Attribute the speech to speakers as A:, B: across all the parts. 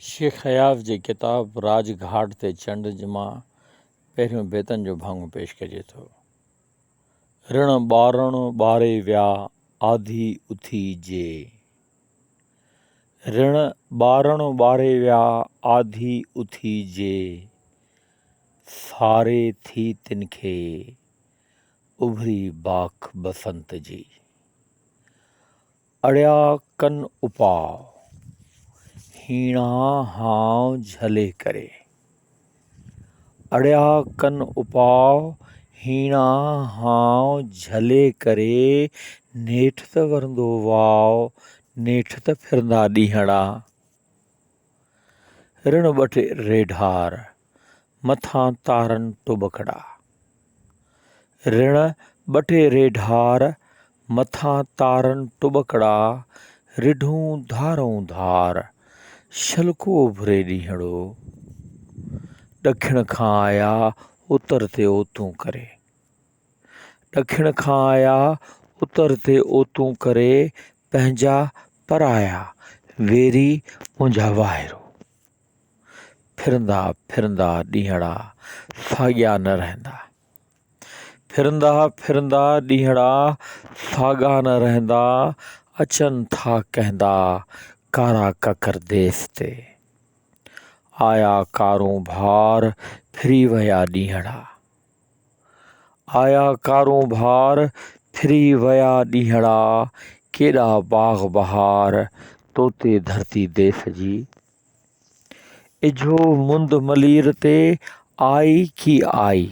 A: شيخ اياز جي ڪتاب راڄ گهاٽ تي چنڊ مان پهريون بيتن جو ڀاڱو پيش ڪجي ٿو. رڻ ٻارڻ ٻاري ويا آڌي اٿي جي. رڻ ٻارڻ ٻاري ويا آڌي اٿي جي. ساري ٿي تن کي اڀري باک بسنت جي. اڙيا ڪن اپاء، هيڻا هانء جهلي ڪري. اڙيا ڪن اپاء، هيڻا هانء جهلي ڪري، نيٺ ته ورندو واء، نيٺ ته ڦرندا ڏينهڙا. رڻ ٻٽ ريڍار، مٿان تارن ٽٻڪڙا. رڻ ٻٽي ريڍار، مٿان تارن ٽٻڪڙا، رڍون ڌارئون ڌار، شلڪو اڀري ڏينهڙو. ڏکڻ کان آيا، اتر تي اوتون ڪري. ڏکڻ کان آيا، اتر تي اوتون ڪري، پنهنجا پرايا، ويري منهنجا واهرو. ڦرندا ڦرندا ڏينهڙا، ساڳيا نه رهندا. ڦرندا ڦرندا ڏينهڙا، ساڳا نه رهندا، اچن ٿا ڪهندا، ڪارا ڪڪر ديس تي. آيا ڪارون ڀار، ڦري ويا ڏينهڙا. آيا ڪاروبار، ڦري ويا ڏينهڙا، ڪيڏا باغ بهار، تو تي ڌرتي ديس جي. اجهو مند ملير تي، آئي ڪي آئي.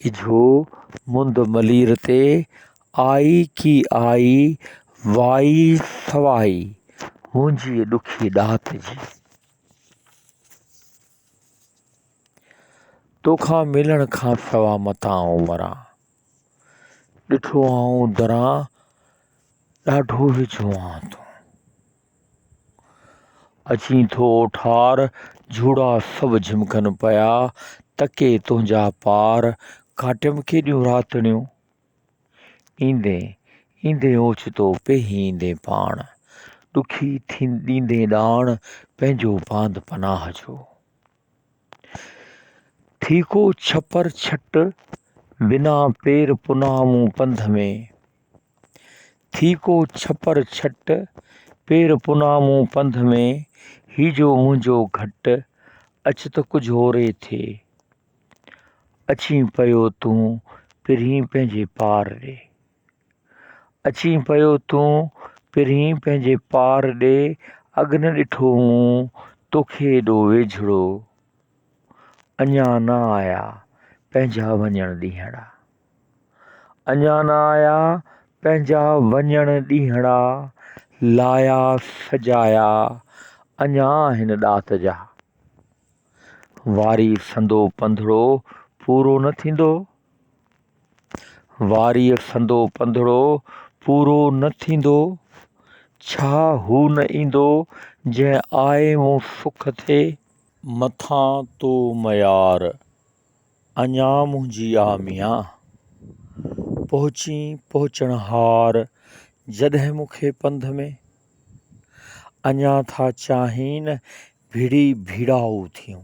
A: اجهو مند ملير تي، آئي ڪي آئي، وائي سوائي، منهنجي ڏکي ڏات جي. توکان ملڻ کان سوا متان آئون مران ڏٺو آئون دران ڏاڍو ويجهو آن تون اچين ٿو ٺار جھوڙا سڀ جھمڪن پيا تڪي تنهنجا پار ڪاٽيم ڪيڏيون راتڙيون ايندين ايندين اوچتو پيهين ايندين پاڻ ڏکي ڏيندين ڏاڻ پنهنجو پاند پناهه جو ٿيڪو ڇپر ڇٽ بنا پير پناهه مون پنڌ ۾، ٿيڪو ڇپر ڇٽ پير پناهه مون پنڌ ۾، هي جو منهنجو گهٽ اچ ته ڪجهه اوري ٿئي، اچين پيو تون پرين پنهنجي پار ڏي. اچين پيو تون پرين پنهنجي پار ڏي اڳ نه ڏٺو مون توکي ايڏو ويجهڙو اڃا نه آيا پنهنجا وڃڻ ڏينهڙا اڃا نه آيا پنهنجا وڃڻ ڏينهڙا لايا سجايا اڃا آهن ڏات جا واري سندو پنڌڙو پورو نه ٿيندو واريء سندو پنڌڙو پورو نه ٿيندو، ڇا هو نه ايندو جنهن آء مون سک ٿي. مٿان تو ميار، اڃا منهنجي آ ميان. پهچين پهچڻهار، جڏهن مون کي پنڌ ۾. اڃا ٿا چاهين ڀڙي ڀيڙائو ٿيون.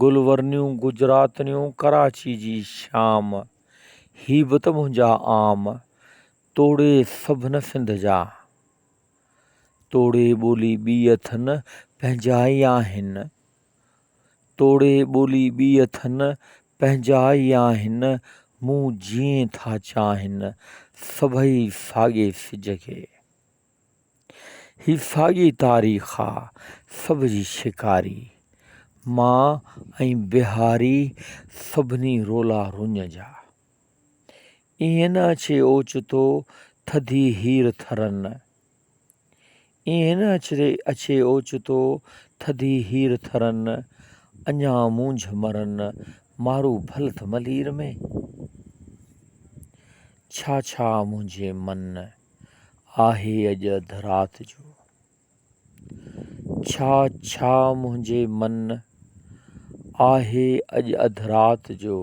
A: گل ورنيون گجراتڻيون ڪراچي جي شام هي به ته منهنجا عام توڙي سڀنه سنڌ جا توڙي ٻولي ٻي اٿن پنهنجا ئي آهن توڙي ٻولي ٻي اٿن پنهنجا ئي آهن مون جيئن ٿا چاهن سڀئي ساڳي سج کي هي ساڳي تاريخ آ سڀ جي شڪاري، مان ۽ بهاري سڀني رولا رڃ جا. ايئن نه اچي اوچتو ٿڌي هير ٿرن، ايئن نه اچي اوچتو ٿڌي هير ٿرن، اڃا مونجهه مرن مارو ڀل ٿملير ۾، ڇا ڇا منهنجي من. آهي اڄ اڌ رات جو. ڇا ڇا منهنجي من آهي اڄ اڌ رات جو.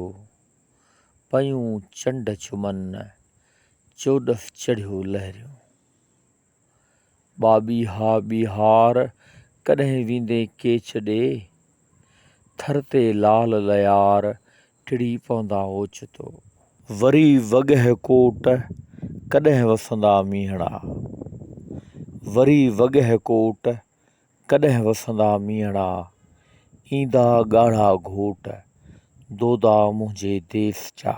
A: پيون چنڊ چمن چوڏف چڙهيو لهريون. ٻاٻي ها ٻيهار ڪڏهن ويندين ڪيچ ڏي. ٿر تي لال ليار ٽڙي پوندا اوچتو. وري وڳهه ڪوٽ، ڪڏهن وسندا مينهڙا. وري وڳهه ڪوٽ، ڪڏهن وسندا مينهڙا. ايندا ڳاڙها گهوٽ، دودا منهنجي ديس جا.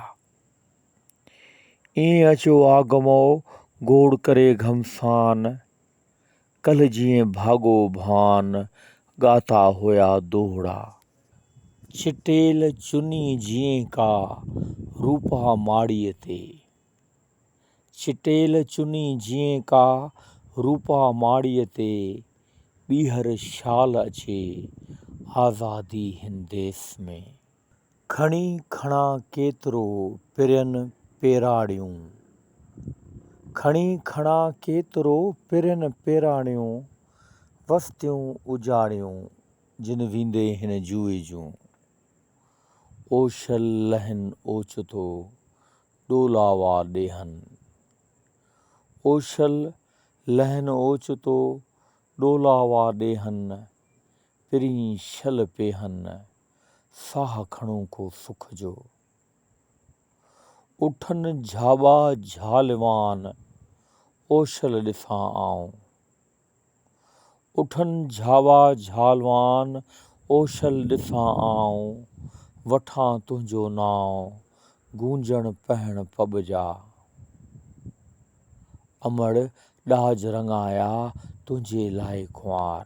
A: ايئن اچو آگمئو، گوڙ ڪري گهمسان. ڪلهه جيئن ڀاڳو ڀان ڳاتا هيا دوهڙا. چٽيل چني جيئن ڪا روپا ماڙيء تي. چٽيل چني جيئن ڪا روپا ماڙيء تي، ٻيهر شال اچي آزادي هنديس ۾. کڻي کڻان ڪيترو پرين پيراڻيون. کڻي کڻان ڪيترو پرين پيراڻيون، وستيون اجاڙيون جن ويندي هن جوئي جون. اوشل لهن اوچتو، ڏولاوا ڏيهن. اوشل لهن اوچتو، ڏولاوا ڏيهن، پرين شل پيهن. ساهه کڻو ڪو سک جو. اٺن جهاٻا جهالوان، اوشل ڏسان آئون. اٺن جهاٻا جهالوان، اوشل ڏسان آئون. وٺان تنهنجو نانء، گونجڻ پهڻ پٻ جا. امڙ ڏاج رڱايا، تنهنجي لاء ڪنوار.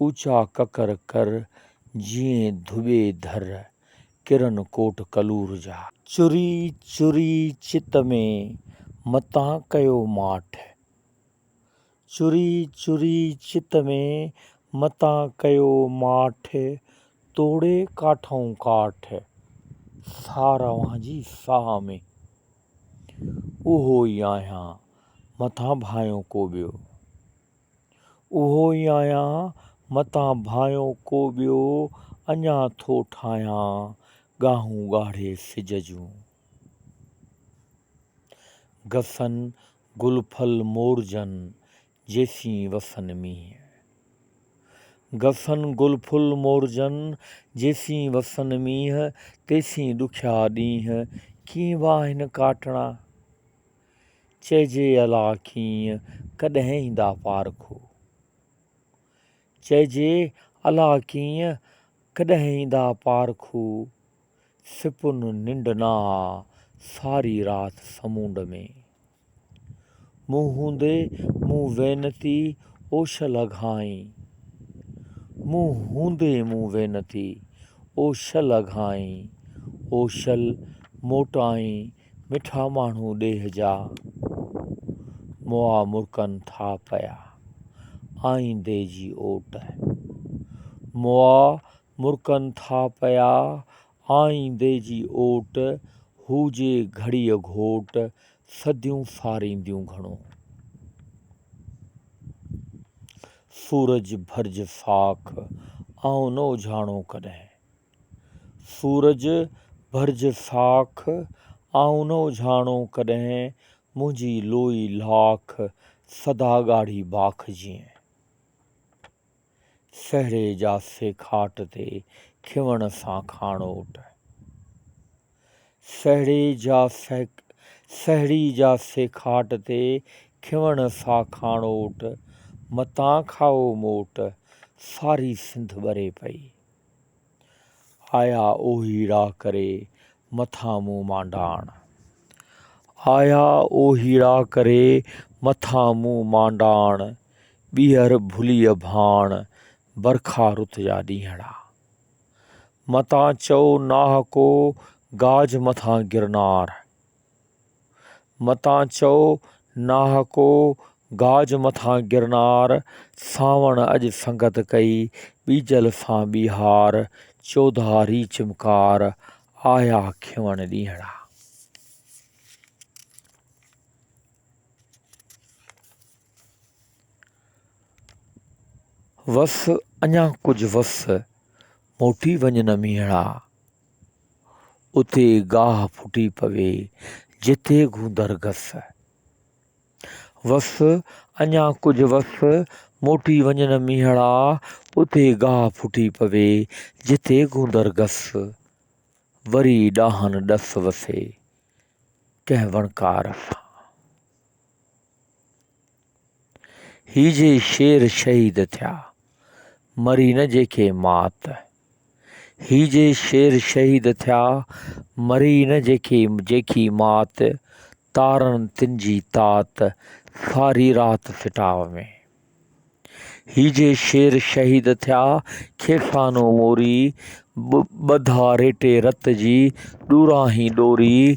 A: اوچا ڪڪر ڪر جيئن ڌوٻي ڌر، ڪرن ڪوٽ ڪلور جا. چري چري چت ۾، متان ڪيو ماٺ. چري چري چت ۾، متان ڪيو ماٺ، توڙي ڪاٺئون ڪاٺ، ساهه روان جي ساهه ۾. اهو ئي آهيان، متان ڀانئيو ڪو ٻيو. اهو ئي آهيان، متان ڀانئيو ڪو ٻيو، اڃا ٿو ٺاهيان، ڳاهون ڳاڙهي سج جون. گسن گل ڦل مورجن، جيسين وسن مينهن. گسن گل ڦل مورجن، جيسين وسن مينهن، تيسين ڏکيا ڏينهن، ڪيئن واهن ڪاٽڻا؟ چئجي الا ڪيئن ڪڏهن ايندا پارکو. چئجي الا ڪيئن ڪڏهن ايندا پارکو. سپن ننڊ نه آ ساري رات سمونڊ ۾. مون هوندي مون وينتي اوش لگهائين. مون هوندي مون وينتي اوش لگهائين. اوشل موٽائين مٺا ماڻهو ڏيهه جا، مئا مرڪن ٿا پيا، آئيندي جي اوٽ. مئا مرڪن ٿا پيا، آئيندي جي اوٽ، هوجي گهڙيء گهوٽ، صديون سارينديون گهڻو. سورج ڀرج ساک، آئون نه اجهاڻو ڪڏهن. سورج ڀرج ساک، آئون نه اجهاڻو ڪڏهن، منهنجي لوئي لاک، سدا ڳاڙهي باک جيئن. سهري جا سيکاٽ تي، کيوڻ سان کاڻوٽ. سهڙي جا سيکاٽ تي، کيوڻ سان کاڻوٽ، متان کائو موٽ، ساري سنڌ ٻري پئي. آيا اوهي راهه ڪري، مٿان مون مانڊاڻ. آيا اوهي راهه ڪري، مٿان مون مانڊاڻ. ٻيهر ڀليء ڀاڻ، برکا رت جا ڏينهڙا. متان چئو ناهه ڪو، گاج مٿان گرنار. متان چئو ناحقو گاج مٿان گرنار، سانوڻ اڄ سنگت ڪئي، ٻيجل سان ٻيهار، چوڌاري چمڪار، آيا کيوڻ ڏينهڙا. وس اڃا ڪجهه وس، موٽي وڃ نه مينهڙا. اتي گاهه ڦٽي پوي، جتي گوندر گس. وس اڃا ڪجهه وس، موٽي وڃن مينهڙا، اتي گاهه ڦٽي پوي، جتي گوندر گس. وري ڏاهن ڏس وسي، ڪنهن وڻڪار سان. هي جي شير شهيد ٿيا، مري نه جيڪي مات. هي جي شير شهيد ٿيا، مري نه جيڪي جيڪي مات، تارن تن جي تات، ساري رات سٽاء ۾. هي جي شير شهيد ٿيا، کيسانو موري، ٻڌا ريٽي رت جي، ڏوراهين ڏوري،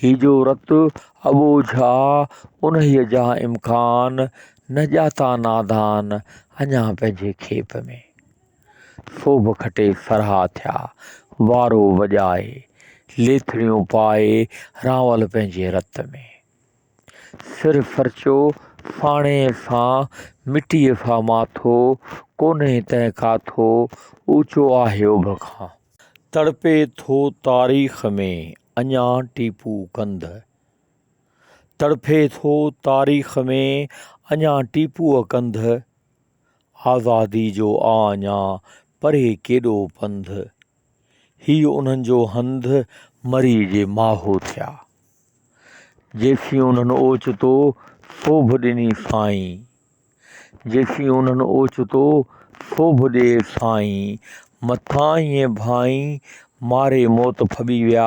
A: هيجو رت ابو جھا، انهيء جا امڪان، نه ڄاتا نادان، اڃا پنهنجي کيپ ۾. سوڀ کٽي سرها ٿيا، وارو وڄائي، ليٿڙيون پائي، رانول پنهنجي رت ۾. سر فرچو ڦاڻي سان، مٽيء سان ماٿو، ڪونهي تنهن ڪاٿو، اوچو آهي اڀ کان. تڙپي ٿو تاريخ ۾ اڃا ٽيپو ڪنڌ. تڙپي ٿو تاريخ ۾ اڃا ٽيپوء ڪنڌ، آزاديء جو آ اڃا پري ڪيڏو پنڌ. هي انهن جو هنڌ مري جي ماهو ٿيا. جيسين انهن اوچتو سوڀ ڏني سائين. جيسين انهن اوچتو سوڀ ڏي سائين. مٿان ايئن ڀائين ماري موت ڦٻي ويا.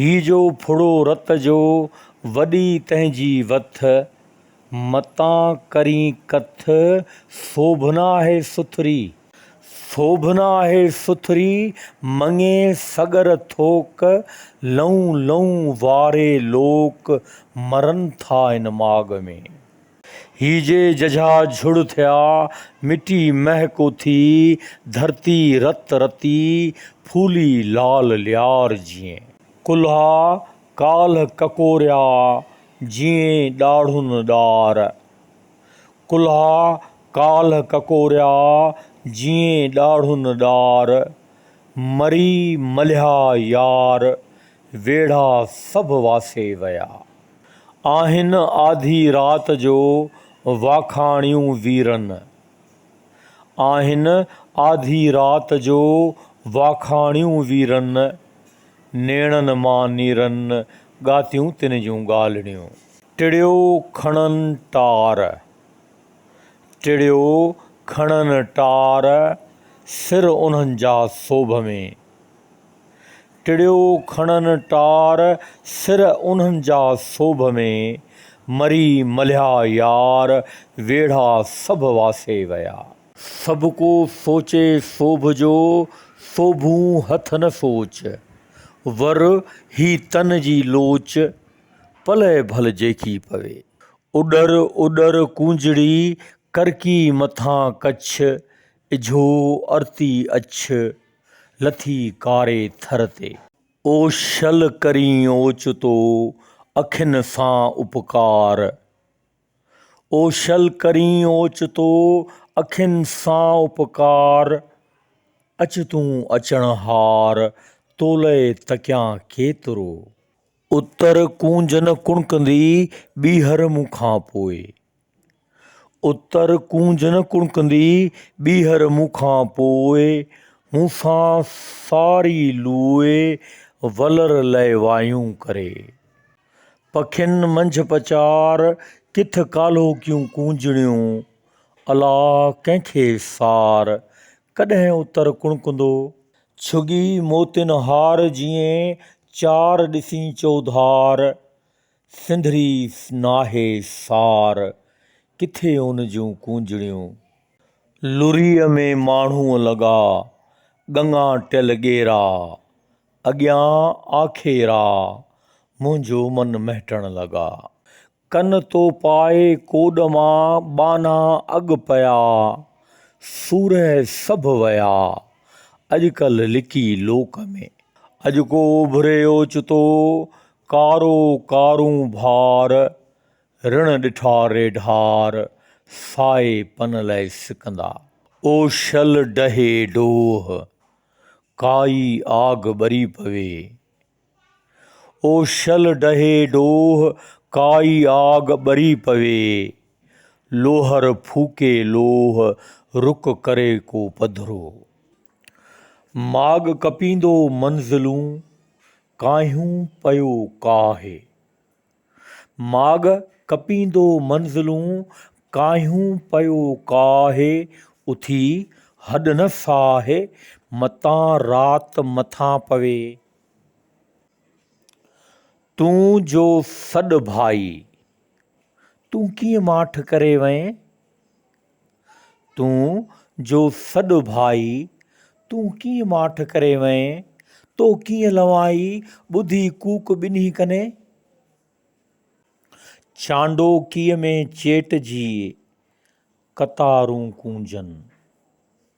A: هي جو ڦڙو رت جو، وڏي تنهنجي وٿ. متان ڪرين ڪٿ، سوڀنا هي سٿري. سوڀنا هي سٿري، مڱي سڳر ٿوڪ. لئون لئون واري لوڪ، مرن ٿا ان ماڳ ۾. هي جي ججها جهڙ ٿيا، مٽي مهه ڪو ٿي، ڌرتي رت رتي، ڦولي لال ليار جيئن. ڪلها ڪالهه ڪڪوريا، جيئن ڏاڙهن ڏار. ڪلها ڪالهه ڪڪوريا، جيئن ڏاڙهن ڏار، مري ملهيا يار، ويڙها سڀ واسي ويا. آهن آڌي رات جو واکاڻيون ويرن. آهن آڌي رات جو واکاڻيون ويرن، نيڻن مان نيرن ڳاتيون تن جون ڳالهڙيون. ٽڙيو کڻن ٽار، ٽڙيو کڻن ٽار، سر انهن جا سوڀ ۾. ٽڙيو کڻن ٽار، سر انهن جا سوڀ ۾، مري ملهيا يار، ويڙها سڀ واسي ويا. سڀ ڪو سوچي سوڀ جو، سوڀون هٿ نه سوچ، ور هي تن جي لوچ، پلئه ڀل جيڪي پوي. اڏر اڏر ڪونجڙي، ڪرڪي مٿان ڪڇ، اجهو ارتي اڇ. لٿي ڪاري ٿر تي. او شل ڪرين اوچتو اکين سان اپڪار. او شل ڪرين اوچتو اکين سان اپڪار. اچ تون اچڻ هار تولئه تڪيان ڪيترو. اتر ڪونجهن ڪڻڪندي ٻيهر مون کان پوء. اتر ڪونج نه ڪڻڪندي ٻيهر مون کان پوء، مون سان ساري لوئي ولر لئي وايون ڪري. پکين منجهه پچار ڪٿ ڪالهوڪيون ڪونجڻيون، الا ڪنهن کي سار، ڪڏهن اتر ڪڻڪندو. ڇڳي موتين هار جيئن چار ڏسين چوڌار. سنڌڙي ناهي سار، ڪٿي ان جون ڪونجڙيون. لريء ۾ ماڻهوء لڳا، ڳڱا ٽيل ڳيرا. اڳيان آکي را، منهنجو من مهٽڻ لڳا. ڪن تو پائي ڪوڏ مان، ٻانها اڳ پيا. سورهه سڀ ويا، اڄڪلهه لڪي لوڪ ۾. اڄڪو اڀري اوچتو، ڪارو ڪارون ڀار، رڻ ڏٺا ريڍار، سائي پن لئه سڪندا. او شل ڊهي ڊوه، ڪائي آگ ٻري پوي. او شل ڊهي ڊوه، ڪائي آگ ٻري پوي. لوهر ڦوڪي لوه، رڪ ڪري ڪو پڌرو. ماڳ ڪپيندو منزلون، ڪاهيون پيو ڪاهي. ماڳ ڪپيندو منزلون ڪاهيون پيو ڪاهي اٿي هڏ نه ساهي متان رات مٿان پوي. تون جو سڏ ڀائي. تون ڪيئن ماٺ ڪري وئين. تون جو سڏ ڀائي، تون ڪيئن ماٺ ڪري وئين، تو ڪيئن لوائي، ٻڌي ڪوڪ ٻنهي ڪني. چانڊوڪيء ۾ چيٽ جي، قطارون ڪونجن.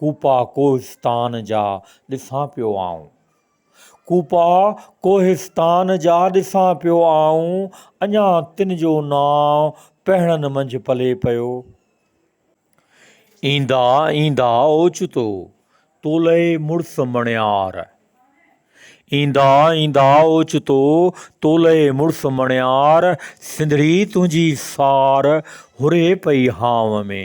A: ڪوپا ڪوهستان جا ڏسان پيو آئون. ڪوپا ڪوهستان جا ڏسان پيو آئون، اڃا تن جو نانء پهڻن منجهه پلي پيو. ايندا ايندا اوچتو، تولئي مڙس مڻيار. ايندا ايندا اوچتو، تولئي مڙس مڻيار، سنڌڙي تنهنجي سار هري پئي هانء ۾.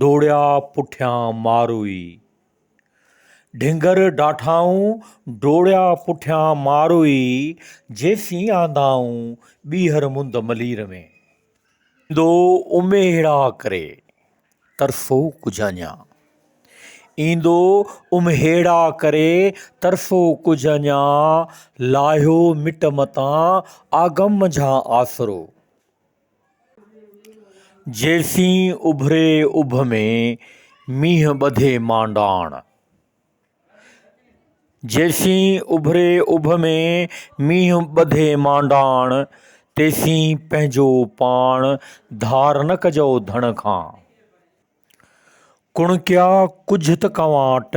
A: ڊوڙيا پٺيان ماروئي. ڍنگر ڊاٺائون ڊوڙيا پٺيان ماروئي، جيسين آندائون ٻيهر مند ملير ۾. ايندو امهيڙا ڪري، ترسو ڪجهه اڃا. ايندو امهيڙا ڪري، ترسو ڪجهه اڃا. لاهيو مٽ متان، آگم منجهان آسرو. جيسين اڀري اڀ ۾، مينهن ٻڌي مانڊاڻ. تيسين پنهنجو پاڻ، ڌار نه ڪجئو ڌڻ کان. ڪڻڪيا ڪجهه ته ڪنواٽ!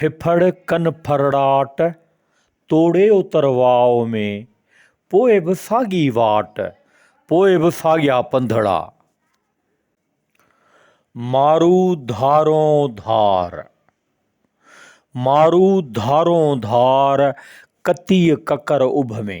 A: ڦڦڙ ڪن ڦرڙاٽ، توڙي اتر واء ۾، پوء به ساڳي واٽ، پوء به ساڳيا پنڌڙا. مارو ڌارون ڌار، مارو ڌارون ڌار، ڪتيء ڪڪر اڀ ۾.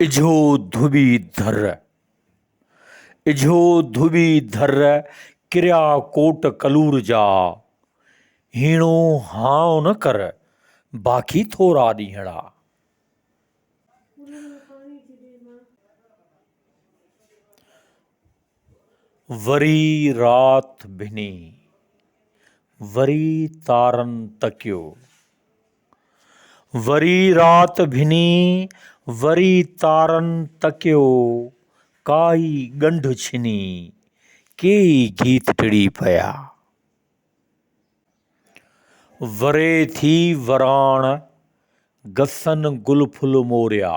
A: اجهو ڌوٻي ڌر، اجهو ڌوٻي ڌر، ڪريا ڪوٽ ڪلور جا، هيڻو هانء نه ڪر، باقي ٿورا ڏينهڙا. وري رات ڀني، وري تارن تڪيو. وري رات ڀني وري تارن تڪيو، ڪائي ڳنڍ ڇني، ڪيئي گيت ٽڙي پيا. وري ٿي وراڻ، گسن گل ڦل موريا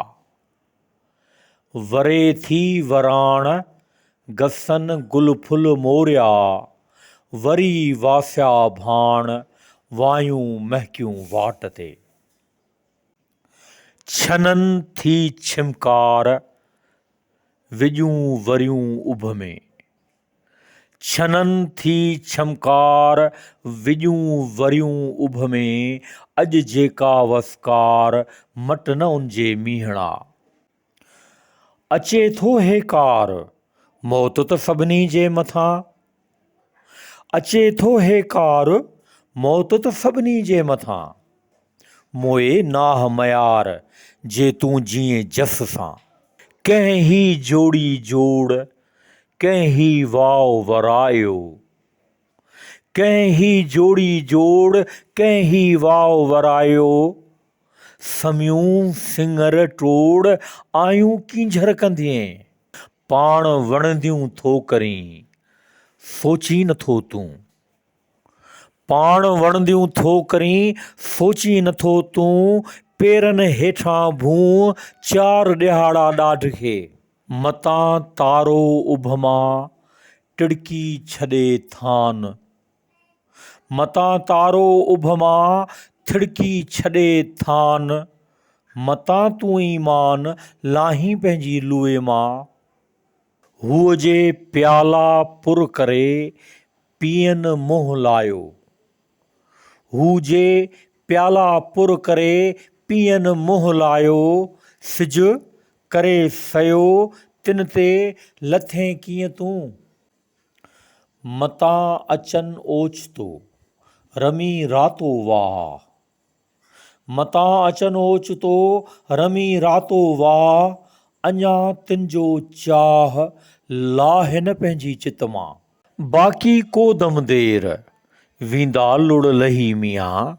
A: وري ٿي وراڻ، گسن گل ڦل موريا، وري واسيا ڀاڻ، وايون مهڪيون واٽ تي. ڇنن ٿي ڇمڪار، وڄون وريون اڀ ۾. ڇنن ٿي ڇمڪار، وڄون وريون اڀ ۾، اڄ جيڪا وسڪار، مٽ نه ان جي مينهڙا. اچي ٿو هيڪار، موت ته سڀني جي مٿان، اچي ٿو هيڪار، موت ته سڀني جي مٿان. موئي ناهه ميار جي تون جيئين جس سان. ڪنهن هي جوڙي جوڙ، ڪنهن هي واء ورايو. ڪنهن هي جوڙي جوڙ، ڪنهن هي واء ورايو. سميون سڱر ٽوڙ، آيون ڪينجهر ڪندينء. پاڻ وڻنديون ٿو ڪرين، سوچين نٿو تون. پاڻ وڻنديون ٿو ڪرين، سوچين نٿو تون، پيرن هيٺان ڀونء، چار ڏيهاڙا ڏاڍ کي. متان تارو اڀ مان، ٽڙڪي ڇڏي ٿان. متان تارو اڀ مان، ٿڙڪي ڇڏي ٿان. متان تون ايمان، لاهين پنهنجي لوئي مان. هوء جي پيالا پر ڪري، پيئن منهن لايو. هو جي پيالا پر ڪري پيئن منهن لايو، سج ڪري سيو تن تي لٿين ڪيئن تون؟ متان اچن اوچتو، رمي راتو واهه. متان اچن اوچتو رمي راتو واهه، اڃا تن جو چاهه لاهه نه پنهنجي چت مان. باقي ڪو دم دير، ويندا لڙ لهي ميان.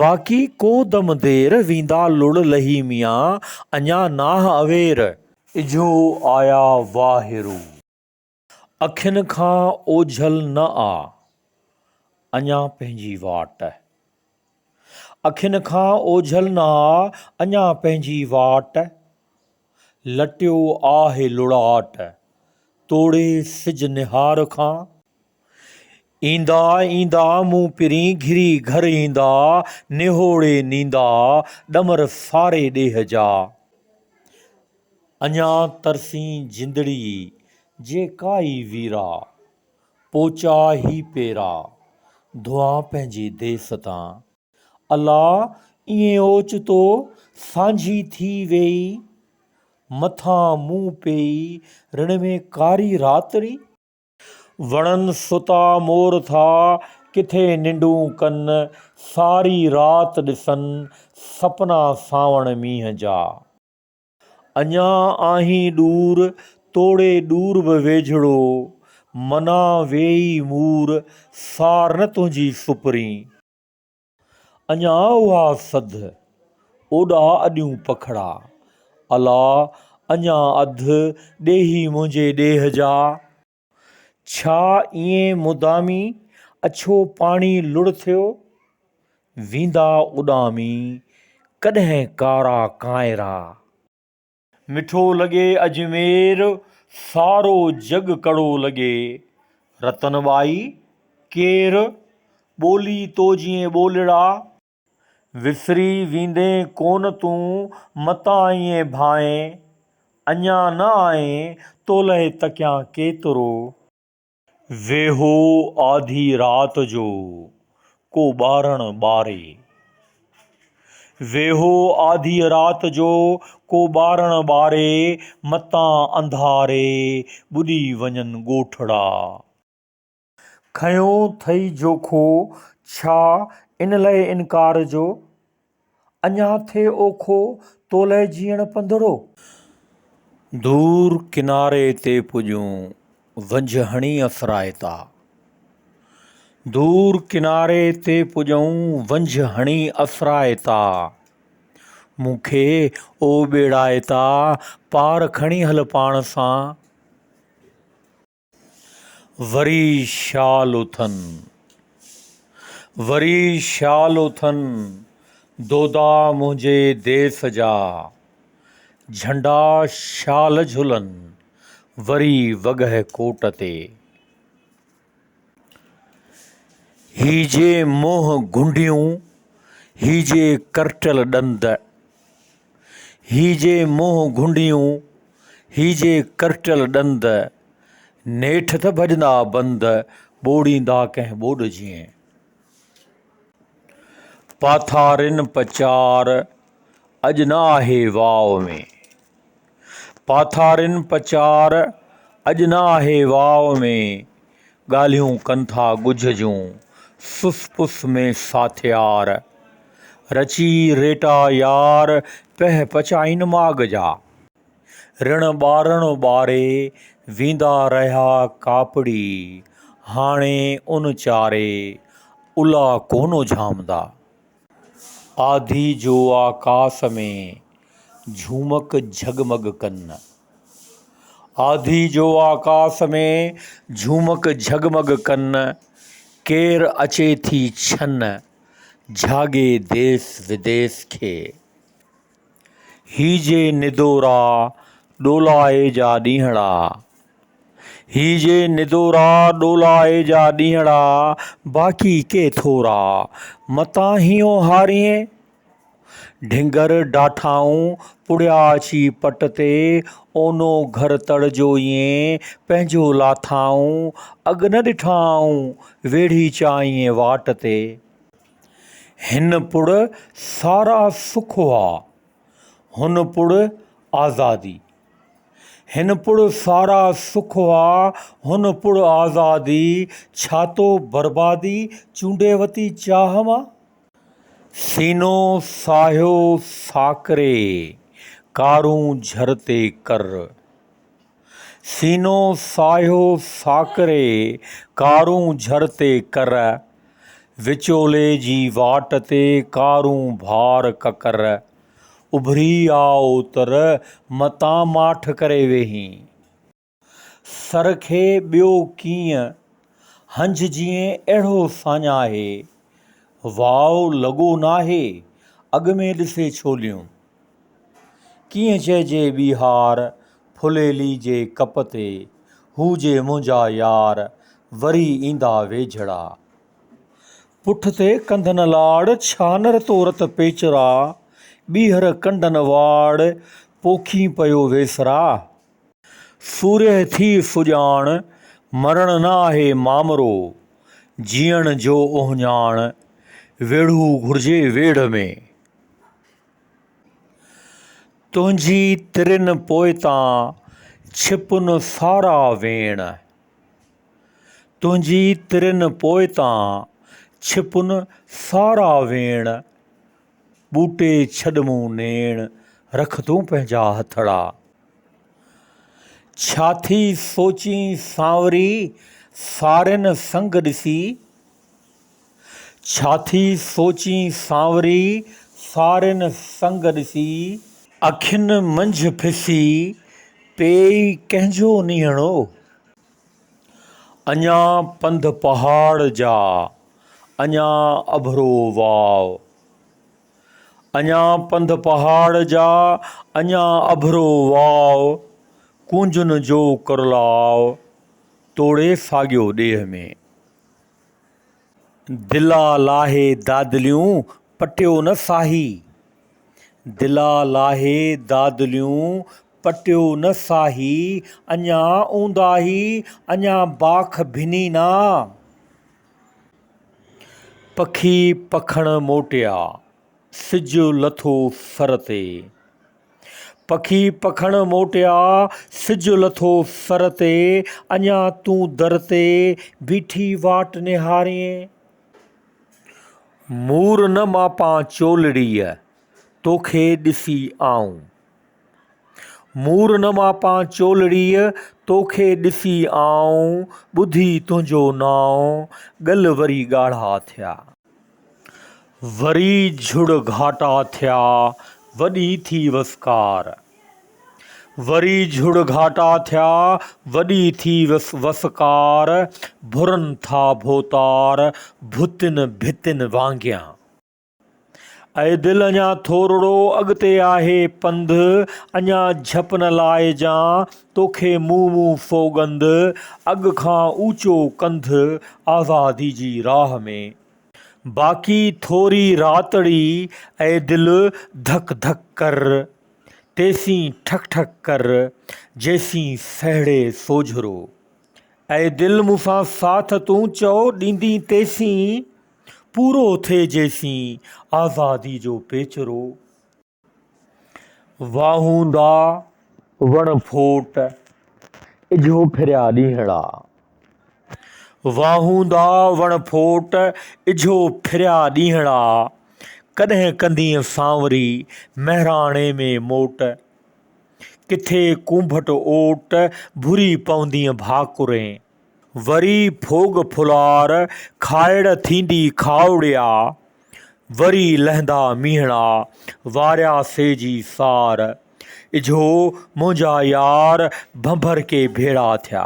A: باقي ڪو دم دير، ويندا لڙ لهي ميان، اڃا ناهه اوير. اجهو آيا واهه رو. اکين کان اوجهل نه آ، اڃا پنهنجي واٽ. اکين کان اوجهل نه آ، اڃا پنهنجي واٽ. لٽيو آهه لڙاٽ، توڙي سج نهار کان. ايندا ايندا مون پرين گهري گهر ايندا، نهوڙي نيندا ڏمر ساري ڏيهه جا. اڃا ترسين جندڙي جي ڪا ئي ويرا، پوچا هي پيرا، ڌوئان پنهنجي ديس تان. الا ائين اوچتو سانجهي ٿي ويئي، مٿان مون پيئي رڻ ۾ ڪاري راتڙي. وڻن ستا مور ٿا ڪٿي ننڊون ڪن، ساري رات ڏسن سپنا سانوڻ مينهن جا. اڃان آهين ڏور، توڙي ڏور به ويجهڙو، منا ويئي مور، سار نه تنهنجي سپرين. اڃان اها سڌ، اوڏا اڏيون پکڙا، الا اڃان اڌ، ڏيهي منهنجي ڏيهه جا. ڇا ايئن مدامي، اڇو پاڻي لڙ ٿيو؟ ويندا اڏامي، ڪڏهن ڪارا ڪانئرا. مٺو لڳي اجمير، سارو جڳ ڪڙو لڳي. رتن ٻائي، ڪير؟ ٻولي تو جيئن ٻولڙا. وسري ويندين ڪون تون متان ائين ڀانئين. اڃا نه آئين تولئه تڪيان ڪيترو. ويهو آڌي رات جو ڪو ٻارڻ ٻاري. ويهو آڌيء رات جو ڪو ٻارڻ ٻاري، متان انڌاري ٻڏي وڃن ڳوٺڙا. کنيو ٿئي جوکو، ڇا ان لئه انڪار جو، اڃا ٿئي اوکو، تو لئه جيئڻ پنڌڙو. دور ڪناري تي پڄون، ونجهه هڻي افرائتا. دور ڪناري تي پڄون، ونجهه هڻي افرائتا. مون کي او ٻيڙائتا، پار کڻي هل پاڻ سان. وري شال اٿن، وري شال اٿن، دودا منهنجي ديس جا، جهنڊا شال جهلن، وري وڳهه ڪوٽ تي. هيجي منهن گهنڊيون، هيجي ڪرٽل ڏند، هي جي منهن گهنڊيون، هي جي ڪرٽيل ڏند، نيٺ ته ڀڄندا بند، ٻوڙيندا ڪنهن ٻوڏ جيئن. پاٿارين پچار، اڄ نه آهي واء ۾. پاٿارين پچار، اڄ نه آهي واء ۾، ڳالهيون ڪن ٿا ڳجهه جون، سس پس ۾ ساٿيار. رچي ريٽا يار، پهه پچائين ماڳ جا، رڻ ٻارڻ ٻاري، ويندا رهيا ڪاپڙي، هاڻي ان چاري، الا ڪونه جهامندا. آڌي جو آڪاس ۾، جهومڪ جهڳمڳ ڪن. آڌي جو آڪاس ۾، جهومڪ جهڳمڳ ڪن. ڪير اچي ٿي ڇن، جهاڳي ديس وديس کي. هي جي ندورا ڏولائي جا ڏينهڙا هي جي ندورا ڏولائي جا ڏينهڙا باقي ڪي ٿورا متان هينئون هارينء ڍنگر ڊاٺائون پڙهيا اچي پٽ تي اونو گهر تڙ جو ايئن پنهنجو لاٿائون اڳ نه ڏٺائون ويڙهي چانئين واٽ تي. هن پڙ سارا سک هئا، هن پڙ آزادي. هن پڙ سارا سک هئا، هن پڙ آزادي، ڇاتو بربادي چونڊي وتي چاهه مان. سينو ساهيو ساڪري، ڪارون جھر تي ڪر. سينو ساهيو ساڪري ڪارون جھر تي ڪر، وچولي جي واٽ تي ڪارون ڀار ڪڪر، اڀري آء اوتر متان ماٺ ڪري ويهين، سر کي ٻيو ڪيئن هنج جيئن اهڙو ساڃاهي، واء لڳو ناهي اڳ ۾ ڏسي ڇوليون. ڪيئن چئجي ٻيهار، ڦليلي جي ڪپ تي، هو جي منهنجا يار، وري ايندا ويجهڙا. پٺ تي ڪنڌن لاڙ، ڇانر تورت پيچرا، ٻيهر ڪنڊن واڙ، پوکين پيو ويسرا. سورهيه ٿي سڄاڻ، مرڻ نه آهي مامرو، جيئڻ جو اهڃاڻ، ويڙهو گهرجي ويڙهه ۾. تنهنجي ترين پوئتان ڇپن سارا ويڻ تنهنجي ترين پوئتان ڇپن سارا ويڻ ٻوٽي ڇڏ مون نيڻ رک تون پنهنجا هٿڙا ڇا ٿي سوچين سانوري سارين سنگ ڏسي ڇا ٿي سوچين سانوري، سارين سنگ ڏسي. اکين منجهه پسي، پيئي ڪنهن جو نيڻو. اڃا پنڌ پهاڙ جا، اڃا اڀرو واء. اڃا پنڌ پهاڙ جا، اڃا اڀرو واء. ڪونجن جو ڪرلاء، توڙي ساڳيو ڏيهه ۾. دلا لاهي دادليون پٽيو نه ساهي. دلا لاهي دادليون پٽيو نه ساهي، اڃا اونداهي اڃا باک ڀني نا. پکي پکڻ موٽيا، سج لٿو سر تي. پکي پکڻ موٽيا، سج لٿو سر تي، اڃا تون در تي بيٺي واٽ نهارين. مور نه ماپان چولڙيء، توکي ڏسي آئون. مور نه ماپان چولڙيء، توکي ڏسي آئون، ٻڌي تنهنجو نانء، ڳل وري ڳاڙها ٿيا. وري جھڙ گھاٽا ٿيا وڏي ٿي وسڪار. وري جھڙ گھاٽا ٿيا وڏي ٿي وسڪار، ڀرن ٿا ڀوتار ڀتين ڀتين وانگيان. اي دل اڃا ٿورڙو اڳتي آھي پنڌ، اڃا جھپ نه لائجان. توکي مون مون سوڳنڌ، اڳ کان اوچو ڪنڌ، آزادي جي راهه ۾. باقي ٿوري راتڙي، اي دل ڌڪ ڌڪ ڪر. تيسين ٺڪ ٺڪ ڪر، جيسين سهڙي سوجهرو. اي دل مون سان ساٿ تون چئو ڏيندين تيسين، پورو ٿئي جيسين آزادي جو پيچرو. واهوندا وڻ ڦوٽ اجهو ڦريا ڏينهڙا. واهوندا وڻ ڦوٽ اجهو ڦريا ڏينهڙا. ڪڏهن ڪندينء سانوري مهراڻي ۾ موٽ. ڪٿي ڪونڀٽ اوٽ ڀري پوندينء ڀاڪرين. وري ڦوڳ ڦلار کائڙ ٿيندي کائوڙيا. وري لهندا مينهڙا، واريا سي جي سار. اجهو منهنجا يار، ڀنڀر ڪي ڀيڙا ٿيا.